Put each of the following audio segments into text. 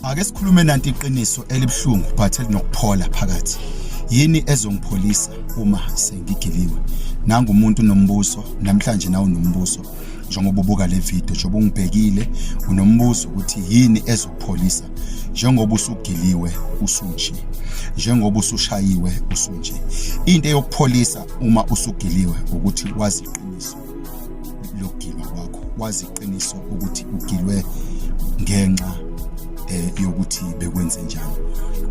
Ake sikhulume nanti iqiniso elibuhlungu but elinokuphola phakathi. Yini ezongipholisa uma sengigiliwe? Nangu umuntu nombuso namhlanje nawo nombuso njengoba ubuka le video njengoba ungibhekile unombuzo ukuthi yini ezokupholisa njengoba usugiliwe usunje njengoba usushayiwe usunje into eyokupholisa uma usugiliwe ukuthi wazi lokugilwa kwakho wazi iqiniso ukuthi ugilwe ngenxa eh, yokuthi bekwenze njani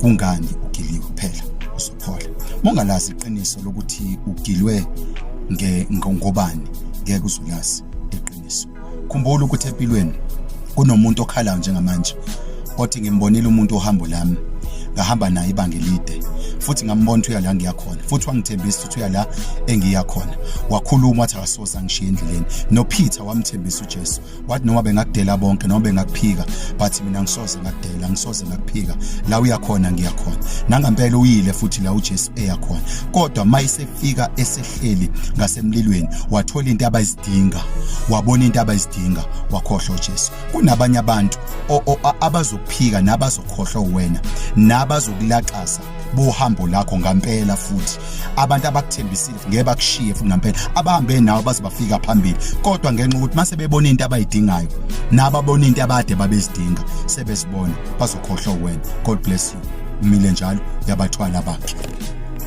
kungani ugiliwe kuphela uzophola mongalazi iqiniso lokuthi ugilwe ngobani ngeke uzulazi iqiniso khumbula ukuthi empilweni kunomuntu okhalayo njengamanje othi ngimbonile umuntu ohambo lami ngahamba naye ibanga elide futhi ngambona ukuthi uya la ngiyakhona futhi wangithembisa uya la engiya khona wakhuluma wathi akasoze angishiye endleleni noPeter wamthembisa uJesu wathi noma bengakudela bonke noma bengakuphika but mina ngisoze ngakudela ngisoze ngakuphika la uya khona ngiya khona nangampela uyile futhi la uJesu eya khona kodwa mayisefika esehleli ngasemlilweni wathola into abayizidinga wabona into abayizidinga wakhohlwa uJesu kunabanye abantu abazokuphika nabazokhohlwa wena nabazokulaxaza bohambo lakho ngampela futhi abantu abakuthembisile ngeke bakushiye futhi ngampela abahambe nawe baze bafika phambili kodwa ngenxa ukuthi mase bebona into abayidingayo naba bona into abade babezidinga sebesibona bazokhohlwa wena god bless you umile njalo yabathwala bakhe